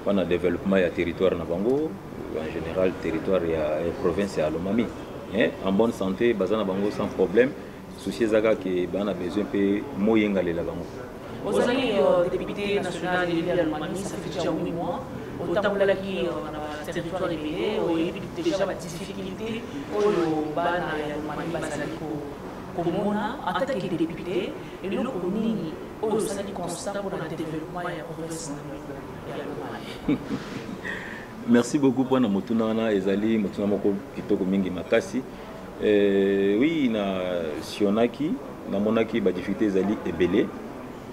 mpo na developpement ya territoire na bango en général territoire ya province ya lomami eh, en bonne santé baza na bango sans problème souci ezaka ke baa na besoin mpe moyengalela bango ozali euh, député national ya lomami ça fait déjà 8 mois otambolaki euh, na baterritoire ebele oyebi déjà badifficulté oyo bana ya lomami bazali komona en tant que député Eloko nini oyo osali constat pour le développement ya province na ya Lomami? Merci beaucoup pour na motuna wana ezali motuna moko kitoko mingi makasi. Euh, oui na sionaki namonaki ba difficultés ezali ebele.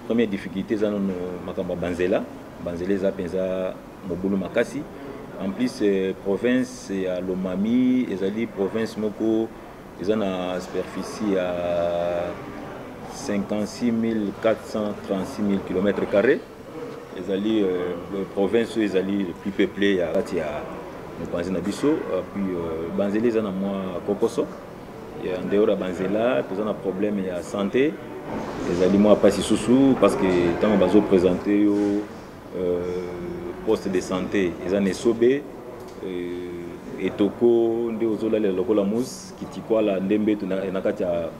Première difficulté eza nono makambo banzela banzela eza mpenza mobulu makasi en plus euh, province ya lomami ezali province moko eza na superficie ya 56436 km carré ezali euh, province oyo ezali le plus peuplé ya kati ya mopanzi na biso puis euh, banzela eza na mwa kokoso ya ndeyoro ya banzela toza na problème ya santé ezali mwa mpasi susu parce que ntango bazopresente yo Euh, poste de santé eza na esobe euh, etoko nde ozolalela lokola mousse kitikwala nde mbetu na kati ya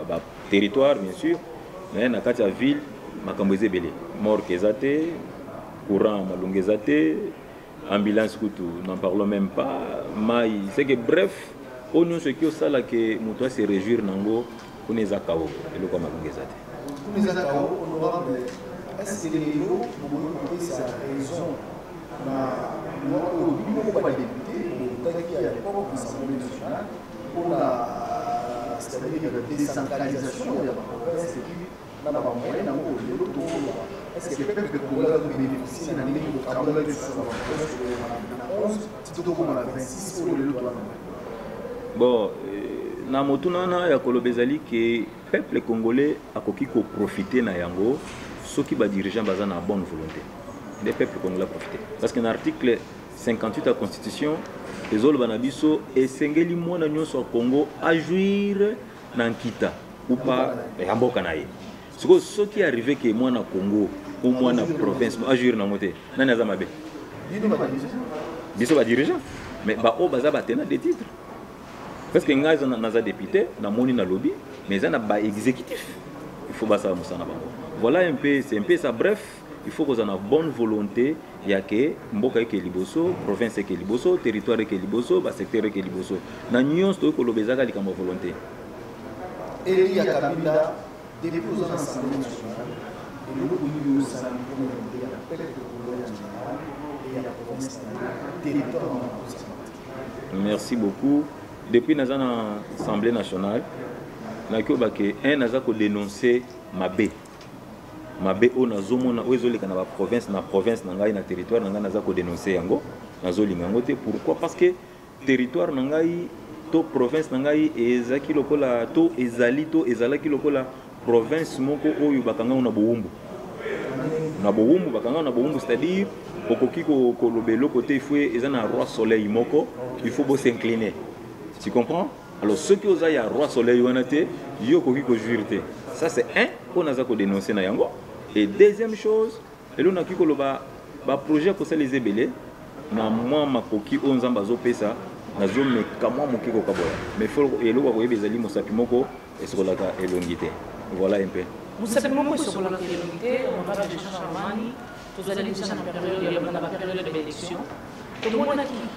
baterritoire bien sûr mais na kati ya ville makambo eza ebele morke eza te courant malonga eza te ambulance kutu n'en parlons même pas mai c'est que bref oyo nyonso eki osala ke moto ase réjouir nango kuna eza kao eloko ya malonga eza te mpona euh, c'est-à-dire décentralisation ya baprovince epuis na ba moyen na ngo lelo to ko est-ce que peuple congolais a bénéficié na ndenge ko kabola ke ça va na 11 tito ko na 26 pour lelo to na bon euh, na motuna wana ya koloba ezali ke peuple congolais akoki koprofite na yango soki badirigeant baza na bonne volonté nde peuple congolais aprofite parce que na article 58 ya constitution ezoloba na biso esengeli mwana nyonso ya congo ajuire na nkita upa ya mboka na ye sikoyo soki arrive ke mwana congo o mwana province ajouire nango te nani aza mabe biso badirigeant mais baoyo baza batena de titre parce que ngai naza député namoni nalobi mais eza na baexécutif il faut basala mosala na bango voilà un peu c'est un peu ça bref il faut kozala na bonne volonté ya ke mboka eke liboso province eke liboso territoire eke liboso basecteur eke liboso na nyonso toyei koloba ezaka likambo ya volonté eli ya kabinda depuis oza na assemblée nationale eloko nini osala mpo na mpe ya pete kolo ya général e ya province na territoire na merci beaucoup depuis naza na assemblée nationale nakoyeba ke un aza kodenonce mabe mabe oyo nazomona oyo ezoleka na baprovince na province na ngai na territoire na ngai naza kodenonse yango nazolinga yango te pourquoi parce que territoire na ngai to province na ngai ezalaki lokola to ezali to ezalaki lokola province moko oyo bakanga na bowumbu na bowumbu bakanga na bowumbu c'est-à-dire okoki koloba eloko te ifo eza na roi soleil moko il faut bosincline tu comprends alors soki oza ya roi soleil wana te yo okoki kojuire te ça c'est un oyo naza kodenonce na yango et deuxième chose elo nakoki koloba baprojet akosala eza ebele na mwa makoki oyo nzambe azopesa nazomeka mwa moke kokabola mais fo eloko ya koyeba ezali mosapi moko esokolaka elongi te voilà un peu mosapi moko esokolaka elongi te honorable jean charmani tozali deja na periode ya bana baperiode ya baélection tomonaki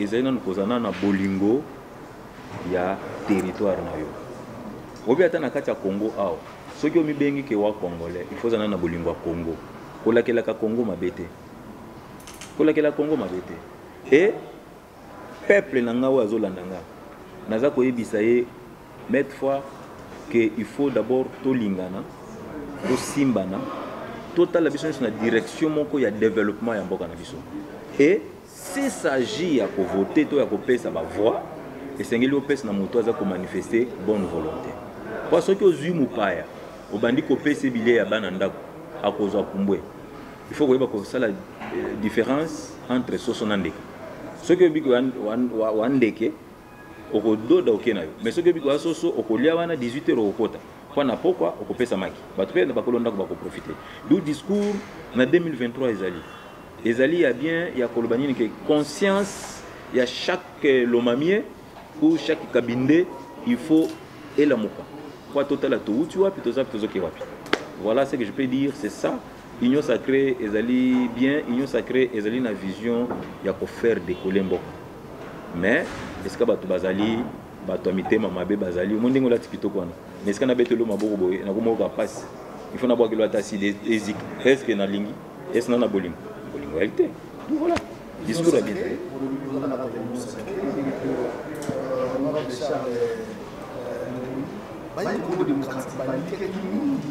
ezali nanu kozala nanu na bolingo ya territoire na yo obi ata na kati ya congo awa soki omibengi ke wa congolais il faut ozala na bolingo ya congo kolakelaka congo mabe te kolakela congo mabe te e peuple na ngai oyo azolanda ngai naza koyebisa ye maitre fois ke il faut d'abord tolingana tosimbana totala biso nyonso na direction moko ya développement ya mboka na biso e S'il s'agit ya ko voter to ya kopesa ba voix, esengeli opesa na moto aza ko manifester bonne volonte. Mpo soki ozwi mopaya obandi kopesa ye bilei ya bana ndako, akozwa pumbwe. Il faut koyeba kosala euh, difference entre soso na ndeke. Soki oyebi koya wa ndeke okododa oke na yo mais soki oyebi koya soso okolia wana 18 heures okokota mpo na pokwa okopesa maki bato mpe na bakolo ndako bakoprofite du discours na 2023 ezali ezali ya bien ya koloba nini ke conscience ya chaque lomamie ou chaque kabinde il faut elamuka mpo totala touti wapi toza mpe tozoke wapi voilà ce que je peux dire c'est ça Union sacrée ezali bien, Union sacrée ezali na vision ya ko faire décoller mboko. Mais esika bato bazali bato ya mitema mabe bazali omoni ndenge olati kitoko wana mais esika nabetelo maboko boye nakomoyoka mpasi il faut nabwakelo ata asili eziki eske nalingi esi na na bolingo bolingo yali te voilà discours ya bien bayi kongo démocratique balikaki mingi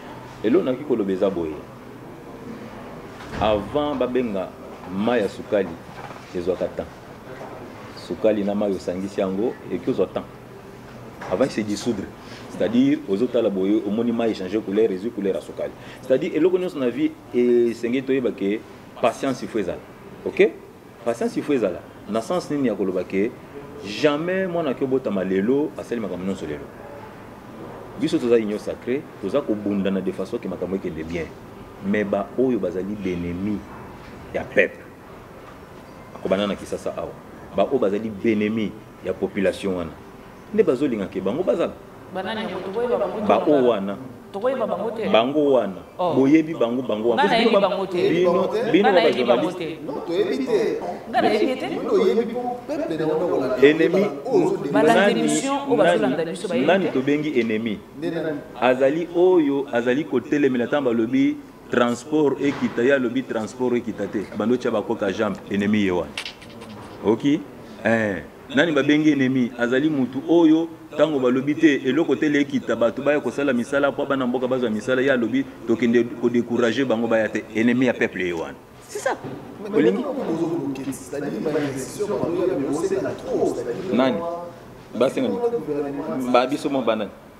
Eloko nakoki koloba eza boye, avant babenga mai ya sukali ezwaka temps. Sukali na mai osangisi yango ekozwa temps avant se dissoudre c'est-à-dire ozotala boye omoni mai echange couleur ezwi couleur ya sukali c'est-à-dire eloko nyonso na vie esengeli toyeba ke patience ifo ezala ok Patience il faut ezala na sens nini ya koloba ke jamais mwana ki obotama lelo asali makambo nyonso lelo biso toza union sacré toza kobundana de façon ke makambo ekende bien mais baoyo bazali benemi ya peuple akobanda na kisasa awa baoyo bazali benemi ya population wana nde bazolinga ke bango bazala baoyo wana tokoyeba bango te bango wana oh. boyebi bango bango wana ngai nayebi bango te bino ba journaliste non toyebi te ngai nayebi te bino oyebi po peuple na wana wala ennemi balanda émission oyo bazolanda biso bayebi nani tobengi ennemi azali oyo azali kotelemela ntango balobi transport ekita ye alobi transport ekita te bando tya bakoka jambe ennemi ye wana oki okay? eh. Nani babengi enemi? Azali mutu oyo tango balobi te eloko te lekita bato baya kosala misala mpo bana mboka bazwa misala ye alobi tokende ko decourager bango baya te enemi ya peuple ye wana c'est ça olingi nani basenga ba biso mwa banani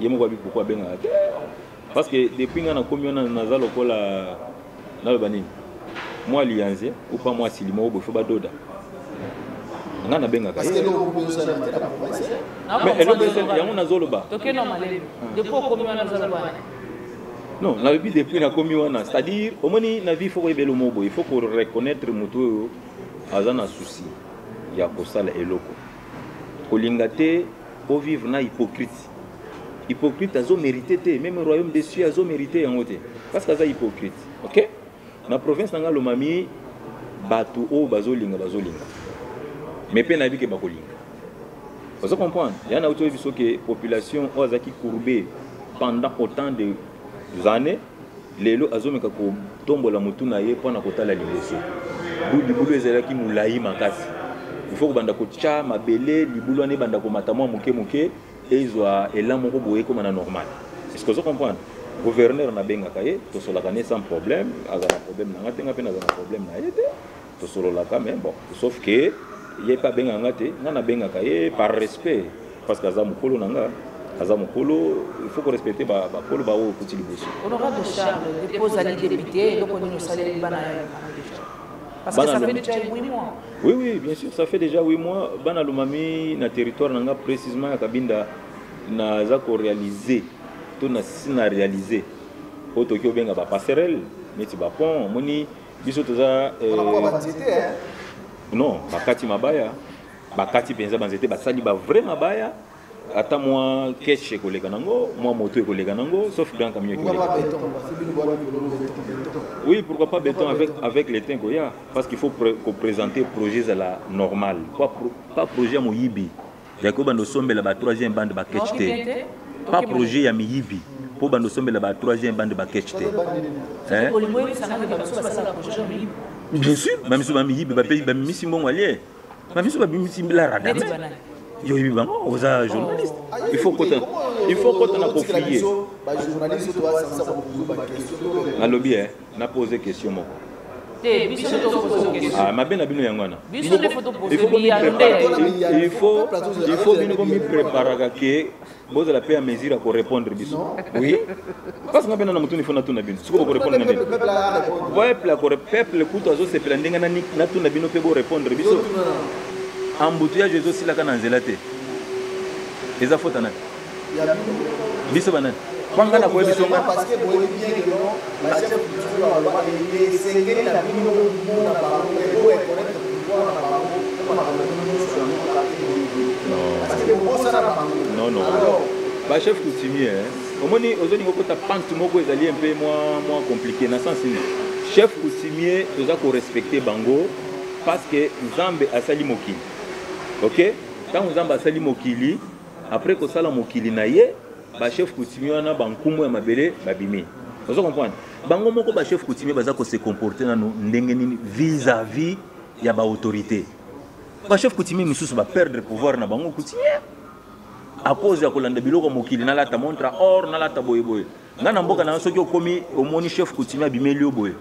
ye moko abi pourquoi abengaka te parce que depuis nga nakomi wana naza lokola naloba nini mwa liyanze ou pas mwa asili moko boye fo badoda nga nabengaka ye mais eloko esali yango nazoloba non nalobi depuis nakomi wana c'est à dire omoni na vie fo koyebela omo boye fo ko reconnaître motu oyo aza na souci ya kosala eloko kolinga te Bo vivre na hypocrite. Hypocrite azo mérité te, même royaume des cieux azo mérité yango te. Parce que aza hypocrite. OK? Na province nanga lomami batu o bazo linga bazo linga. Mais pe na bike bako linga. Vous comprenez Il y en a qui population qui a courbé pendant autant de années Lelo azomeka kotombola motu na ye mpo na kotala liboso. Libulu ezalaki molai makasi. Il faut kobanda kotya mabele, libulu wana ebanda komata mwa moke moke, ezwa elan moko boye ekoma na normal. Est-ce que ozo comprendre? Gouverneur nabengaka ye, tosolaka ne sans problème, azala na problème na nga te, nga mpe nazala na problème na ye te. tosololaka mais bon sauf que ye mpe abenga nga te nga nabengaka ye par respect parce que aza mokolo na nga aza mokolo il faut korespecte bakolo baoyo okuti liboso honorable charles depo ozali député eloko nini osaleli bana ya Parce que ça fait déjà 8 mois. Oui, oui, bien sûr, ça fait déjà 8 mois. Bana Lumami, na territoire, nanga précisément, à Kabinda, na zako réalisé, tout na sina réalisé. Otoki obenga ba passerelle, neti ba pont, moni biso toza eh, non bakati mabaya bakati mpenza banzete basali ba vrai mabaya ata mwa keshe ekoleka nango mwa moto ekoleka nango sauf grand camion ekoleka oui pourquoi pas béton avec, avec le temps koya parce qu'il faut ko présenter projet ezala normal pas, pas projet ya moyibi ya kobanda osombela ba troisième bande ba catch te pas projet ya miyibi mpo banda osombela ba troisième bande ba catch te bien sûr bamisu bamiyibi bape bamimisi mbongo alie bamisu bamimisi la radame yo oyebi bango oza journaliste il faut kota il faut kota na kofie nalobi e na pose question moko te biso nde tokopoza question ah, mabe na bino yango wana biso nde fotoposebiyaifo bino bomipreparaka ke bozala mpe ya mesure ya korépondre biso oui parce nga mpe nana motuni fo natuna bino sikoyo bokorépondre na nini peuple akore peuple kutu azosepela ndenge natuna bino mpe borépondre biso embouteillage ezosilaka na nzela te eza fota nani biso banani kwanga na koyebi songa parce que boyebi bien que non ba chef culture ba loba que esengeli na bino bomona bango et bo reconnaître pouvoir na bango mpo makambo nyonso yango parce que bobosana na bango non non alors ba chef coutumier omoni ozolinga okota pante moko ezali un peu mwa mwa compliqué na sens nini chef coutumier toza korespecte bango parce que nzambe asali mokili ok ntango nzambe asali mokili Après kosala mokili na ye, ba chef coutumier wana ba nkumu ya mabele babimi. Ozo comprendre? Bango moko ba chef coutumier baza ko se comporter nanu ndenge nini vis-à-vis -vis ya ba autorités. Ba chef coutumier misusu ba perdre pouvoir na bango coutumier à cause ya kolanda biloko mokili nalata montre or nalata boye boye nga na mboka na soki okomi omoni chef coutumier abimeli yo boye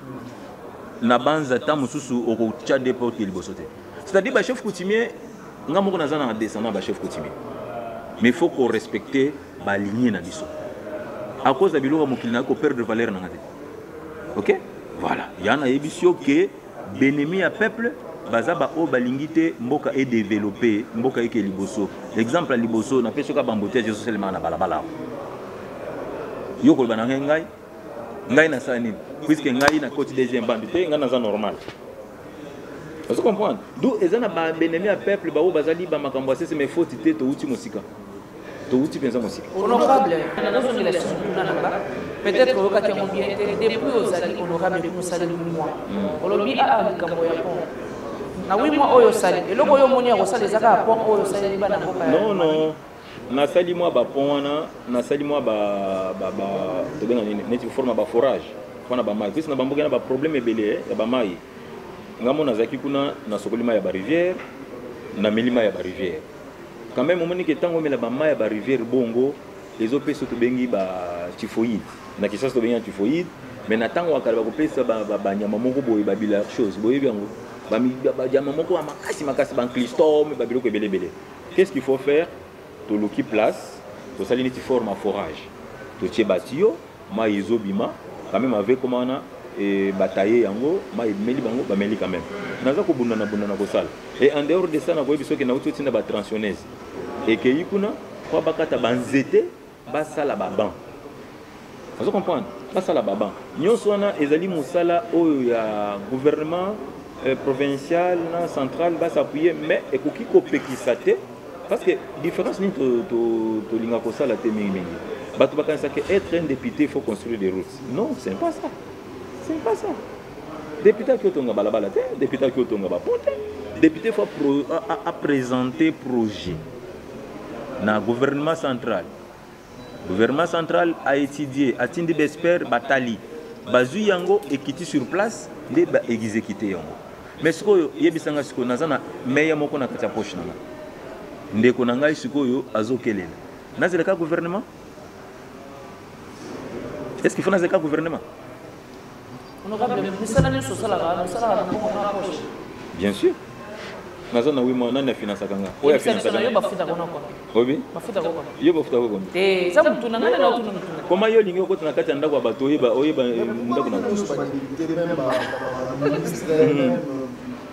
na banza ta mosusu okotya de porte liboso te c'est-à-dire ba chef coutumier nga moko naza na descendant ba chef coutumier mais faut ko respecter ba lignée na biso à cause ya biloko ya mokili nayoki koperdre valeur na nga te ok voilà ya nayebisi yo ke B'ennemis ya peuple baza ba oyo balingi te mboka e developper, mboka eke liboso. Exemple ya liboso napesi yo kaka b'embouteillages ezo salemaka na balabala awa. Yo okoloba na ngai ngai ngai nasala nini puisque ngai nakoti deuxième bande te ngai naza normal. Ozo comprendre? D'où eza na ba b'ennemis ya peuple ba oyo bazali ba makambo ya sese mais faute te towuti mosika. towuti mpenza mosika honorable nazozongela lisusu kuna na nga peut-être oyokaki yango bien te depuis ozali honorable depuis mosali mwa hmm. olobi aa ah, ah, likambo ya pont na wi mwa oyo osali eloko oyo omoni ya kosala eza kaka pont oyo osaleli bana mboka non non nasali mwa bapont wana nasali mwa tobenga nini neti forme ya baforage mpo na bamai mpesi na bamboka na baproblème ebele eh, ya bamai ngambo nazalaki kuna nasokoli mai ya barivière nameli mai ya barivière quand même omoni ke ntango omela bamai ya bariviere bongo ezopesa tobengi ba typhoïde na kisasa tobengi ya typhoïde mais na ntango ya kala bakopesa banyama moko boye babila chose boyebi yango banyama moko ya makasi makasi banclistome babiloko ebele ebele qu'est ce qu'il faut faire toluki place tosali neti forme ya forage totie batiyo Mayi ezo bima quand meme avec koma wana et ba tailler yango mayi meli bango ba meli quand meme. Naza ko bunda na bunda na kosala et en dehors de ça na koyebi soki na uti otinda ba transionneuse ekeyi kuna po bakata ba nzete basala ba banc ozo comprendre basala baban nyonso wana ezali mosala oyo ya gouvernement euh, provincial na central basappuye mais ekoki kopekisa te Parce que différence nini tolinga kosala te mingi mingi bato bakanisa que être un député il faut construire des routes non c'est pas ça c'est pas ça député aki otonga balabala te député aki otonga bapon te député faut apresente projet na gouvernement central gouvernement central a étudié atindi baexpert batali bazwi yango ekiti sur place nde baexekite yango mais sikoyo yebisa ngai sikoyo naza na meye moko na kati ya poche na ngai ndeko na ngai sikoyo azokelela nazela ka gouvernement est ce qu'il faut nazela ka gouvernement bien sûr naza na wima nani afinansaka nga oyo afinansaka yo bafutaka na kono obi bafutaka kono yo bafutaka kono te eza mutu na nani na otuna mutu koma yo olingi okota na kati ya ndako ya bato oyeba oyeba ndako na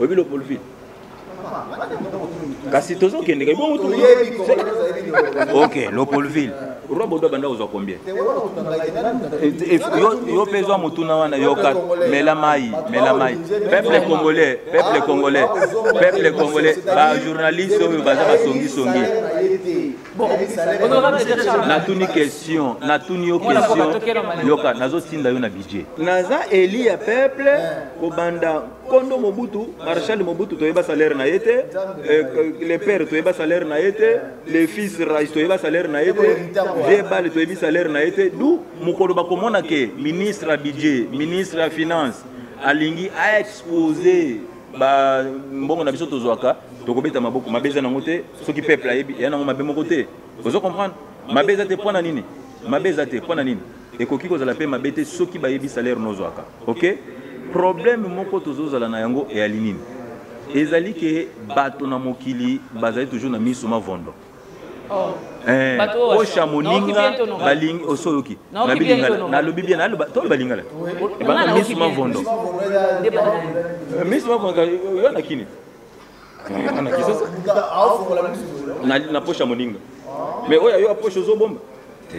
oyebi lopolivie kasi tozokendeka ebongo tu ok lopolville roi bodo abanda kozwa combien yo mpe zwa motuna wana yoka mela mai mela mai peuple congolais peuple congolais peuple congolais bajournaliste oyo baza basongisongi natuni question natuni yo question yoka nazotinda yo na budget naza eli ya peuple kobanda kondo mobutu marshal mobutu toyeba salaire na ye te eh, le père toyeba salaire na ye te le fils rais toyeba salaire na ye te vie bale toyebi salaire na ye te du mokolo bakomona ke ministre ya budget ministre ya finance alingi aexpose ba mbongo na biso tozwaka tokobeta maboko mabe eza nango te soki peuple ayebi eya nango mabe moko te ozo comprendre mabe eza te mpo na nini mabe eza te mpo na nini ekoki kozala mpe mabe te soki bayebi salaire nozwaka ok problème moko tozozala na yango eyali nini ezali ke bato na mokili bazali toujours na miso mavondo oh. eh, osha moninga balingi osoyoki nabi lingala nalobi bien naloba toloba lingala ebanga misu mavondo misu mavondo yo na kini na kisasa na posha moninga mais oyo ayo aposha ozobomba te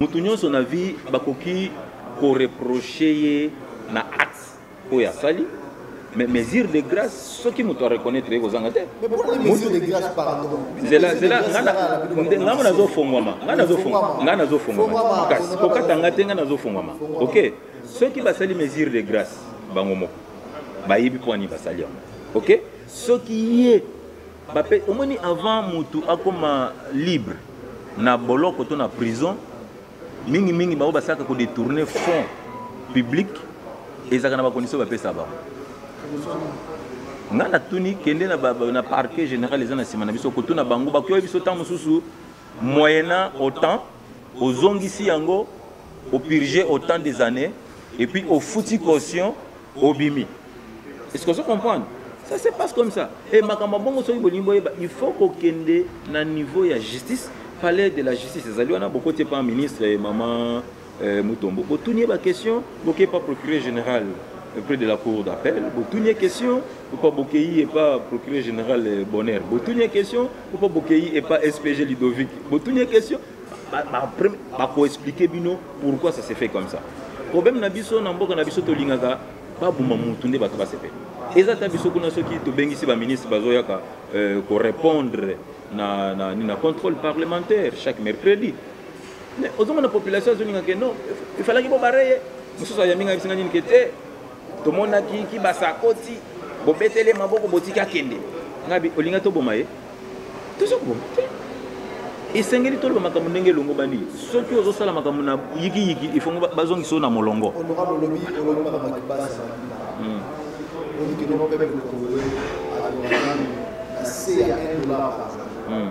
Mutu nyonso na vie bakoki ko reprocher ye na acte oyo asali mais mesure de grâce soki moto areconnaitre ye kozanga te nzela nzela nga mo nazofongwama nga nazofongwama makasi kokata nga te nga nazofongwama ok soki basali mesure de grâce bango moko bayebi mpo ani basali yango ok soki ye bape omoni avant mutu akoma libre na boloko to na prison mingi mingi bango basalaka ko détourner fonds public ezalaka na bakondition bapesa bango ngai natuni kende na, ba, na parquet général eza na nsima na biso kotuna bango bakoyoki biso ntango mosusu moyena autant ozongisi yango au purger autant des années et puis au fouti caution au bimi est-ce que vous comprenez ça se passe comme ça et makambo bongo soki bolingi boyeba il faut kokende na niveau ya justice palais de la justice ezali wana bokoti epa ministre et maman euh, mutombo botuni ye baquestion boke epa procureur général euh, près de la cour d'appel botuni ye question epa bokei epa procureur général euh, bonheur botuni ye question Pourquoi Bokeyi et pas SPG Ludovic Botuni une question Ba ko expliquer bino pourquoi ça s'est fait comme ça. Problème na biso na mboka na biso to lingaka ba buma mutu nde bato basepeli. Eza ta biso kuna soki to bengisi ba ministre bazoyaka euh, ko répondre na na na contrôle parlementaire chaque mercredi. Mais ozomona population azolinga ke non, il fallait que bo bareye. Mususu ayambi ngai bisinga nini ke te. tomonaki kibasa akoti bobetele maboko botiki akende ngabi olinga toboma ye toza koboma te esengeli toloba makambo ndenge elongobani soki ozosala makambo na yikiyiki ifongo bazongisa yo na molongo Mm.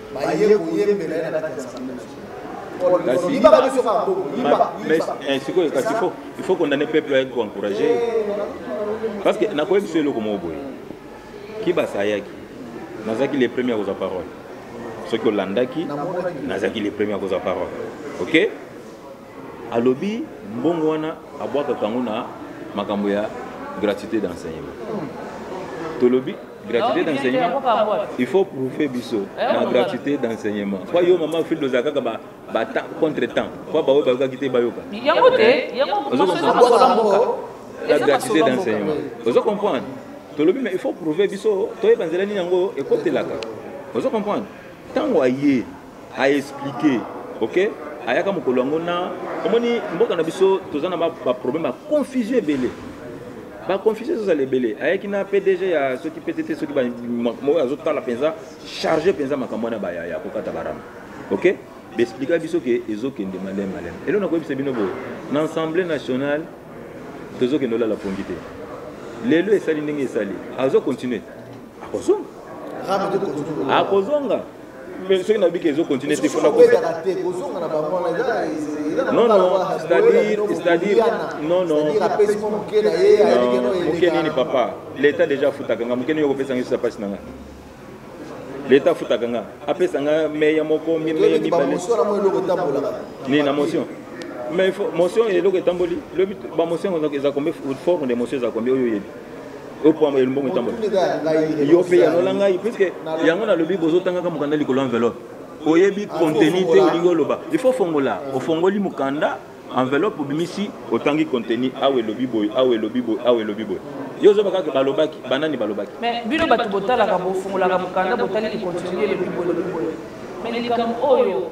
baye koyembela ye na kati ya sambe na sikoyo kasi il faut condamne peuple ayaki koencourage parce que nakoyebi biso eloko moko boye kibasa ayaki nazalaki le premier akozwa parole soki olandaki nazalaki le premier akozwa parole ok alobi mbongo wana abwakaka yango na makambo ya gratuité d'enseignement tolobi gratuité d'enseignement il faut prouver biso eh, na gratuité d'enseignement po yo mama fil ozala kaka contre temps po baoyo bayokaki te bayoka la gratuité d'enseignement ozo comprendre tolobi mais il faut prouver biso toyeba nzela nini yango ekotelaka ozo comprendre ntango aye a expliquer ok ayaka mokolo yango na omoni mboka na biso toza na baproblème ba ya confusion ebele baconfusion ezozala ebele ayaki na pdg ya soki ptt soki moko azotala mpenza charge mpenza makambo wana baya ya kokata barama ok baexplika biso ke ezokende maleme maleme elo nakoyebisa bino boye na assemblée nationale tozokende olala pongi te lelo esali ndenge esali azocontinue akozonga akozonga mais soki nayobi ke ezo continue te fona non non c'est-à-dire c'est-à-dire non non moke nini papa l'état déjà afutaka nga moke nini okopesa ngai sosa mpasi na nga l'état afutaka nga apesa nga meya moko mimeye mibale nini na motion mais motion eloko etamboli lobi bamotion eza kombe forme de motion eza kombe oyo oyebi opwamba ye mbongo etambola yo mpe yanola ngai puiske yango nalobi bozotangaka mokanda likolo enveloppe oyebi contenu te olingi oloba il faut fongola ofongoli mokanda enveloppe obimisi otangi contenu awa elobi boye awa elobi boye awa elobi boye yo ozoba kaka balobaki banani balobaki mais bino bato botalaka bofungolaka mokanda botali likontinue elobi boye elobi boye mais likambo oyo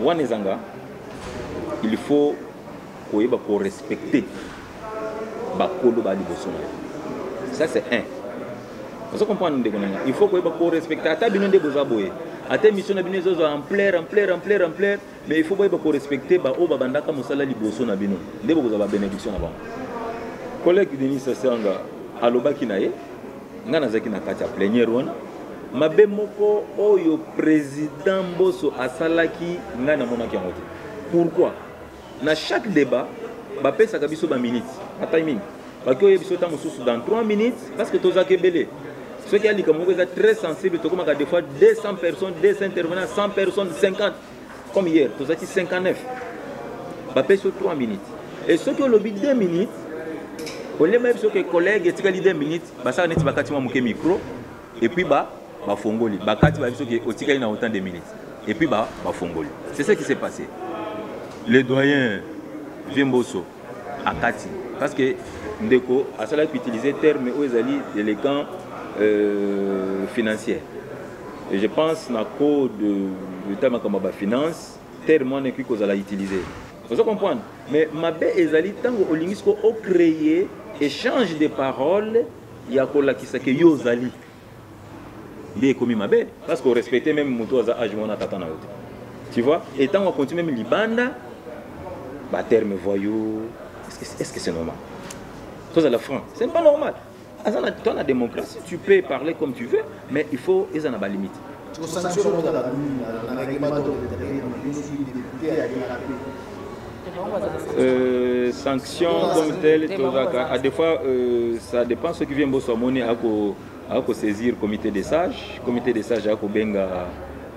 wana ezanga il faut koyeba ko respecter bakolo ba liboso na yo ça c'est un ozo comprendre ndeko na nga il faut koyeba ko respecter ata bino nde boza boye ata émission na bino ezozwa ampleur ampleur ampleur ampleur mais il faut boyeba ko respecter baoyo babandaka mosala liboso na bino nde bokozwa ba bénédiction na bango collègue denis sasianga alobaki na ye ngai nazalaki na kati ya pleniere wana mabe moko oyo président mboso asalaki ngai namonaki yango te pourquoi na chaque débat bapesaka biso baminute batiming baki oye biso ntango mosusu dans 3 minutes parce que tozalaka ebele soki ya likambo moko eza très sensible tokomaka des fois 200 personnes 200 intervenants 100 personnes 50 comme hier tozalaki 59 bapesi yo 3 minutes e soki olobi 2 minutes olema yebi soki collègue etikali 2 minutes basala neti bakati mwa moke micro epuis bafongoli ba bakati bayebi soki otikali na autant de minutes epuis bafongoli ba c'est ce qui s'est passé le doyen vieux mboso akati parce que ndeko asalaki utiliser terme oyo ezali déléguant euh, financier et je pense na code leta makambo ya bafinance terme wana ekoki kozala utiliser ozo comprendre mais mabe ezali ntango olingisi ko ocreye échange de parole ya kolakisa ke yo ozali nde ekomi mabe parce que orespecte meme moto aza age wana tata na yo te tu vois et ntango akonti meme libanda baterme voyou est ce que c'est normal tozala franc c'est pas normal aza na temps na démocratie tu peux parler comme tu veux mais il faut eza na balimite Tiko sanction moko na lulu na règlement de l'intérieur na biso soki député ya yela pe. Euh, sanction comme telle tozaka à des fois euh, ça dépend ce qui vient boso amoni ako ako saisir comité des sages comité des sages ako benga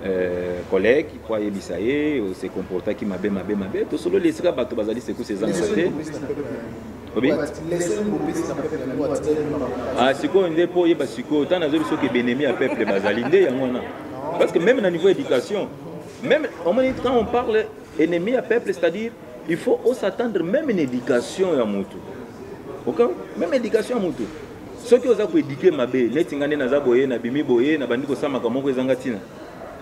Euh, collègue mpo ayebisa ye ose comportaki mabe mabe mabe tosololi esika bato bazali sekusi ezanga te Ah, sikoyo nde mpo oyeba sikoyo ntango nazoyebi soki ebenemi ya peuple bazali nde yango wana parce que même na niveau éducation même omoni quand on parle ennemi ya peuple c'est-à-dire il faut osatendre même une éducation ya motu ok même éducation ya motu soki oza koéduke mabe neti nga nde naza boye nabimi boye nabandi kosamaka moko ezanga ntina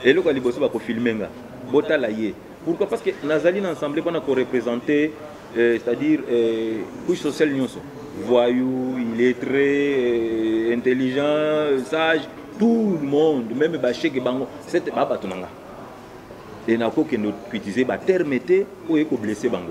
eloko ya liboso bakofilme nga botala ye pourquoi parce que nazali na ensemble mpona korepresente Euh, c'est-à-dire euh, couche sociale nyonso voyou illettré euh, intelligent sage tout le monde meme basheke bango sete babato na nga e nakokende utilize baterme te oyo ekoblesse bango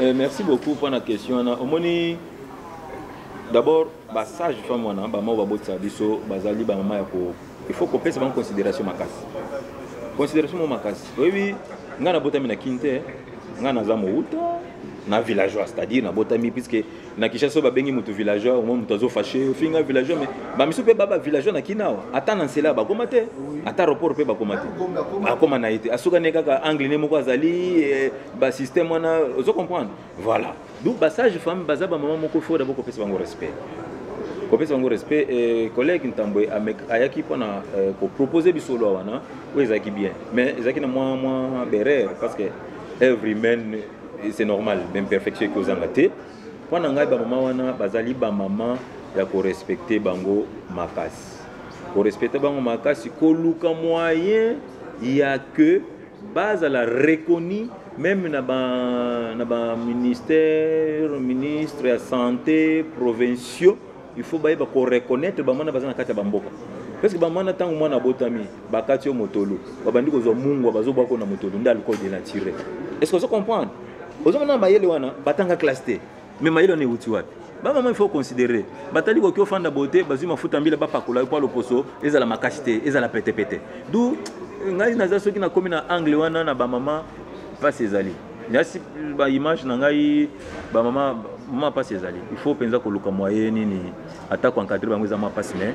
eh, merci beaucoup pour la question wana omoni d'abord basage femme wana bamao babotisa biso bazali bamama ya ko il faut kopesa bango considération makasi considération mo makasi oyebi ngai nabotami na kin te ngai naza mowuta na villageois c'est-à-dire nabotami puisque na kinshasa babengi moto villageois omoi moto azo fache ofinga villageois mais bamisu mpe baba villageois na kina awa ata na nsela bakoma te ata aéroport mpe bakoma te akoma na ye te asukani kaka angle ne moko azali eh, basystème wana ozo comprendre voilà donc basage femme baza bamama moko fo dabo kopesa bango respect kopesa bango respect eh, collègue ntambwe ayaki mpo na eh, kopropose biso lwa wana oyo ezalaki bien mais ezalaki na mwa mwa berere parce que every man c'est normal même perfection eki ozanga te mpo na ngai bamama wana bazali bamama ya korespecte bango makasi korespecte bango makasi koluka moyen ya que bazala reconnu même na baministère ba ministre ya santé provinciaux il faut bayeba ko reconnaître ba mwana baza na kati ya bamboka parce que ba mwana ntango mwana abotami bakati yo motolu babandi kozwa mungwa bazobwako na motolu nde alcool de nature est ce que ozo comprendre ozomona mayele wana batanga classe te mais mayele wana euti wapi bamama ifo considere batali koki ofanda boye te bazwi mafuta mbila bapakola yo mpo aloposo ezala makasi te ezala petepete du ngai naza soki nakomi na angle wana na bamama mpasi ezali nasi ba image na ngai ba mama mama pasi ezali il faut penza koluka moyen nini atako encadre bango eza mwa pasi mais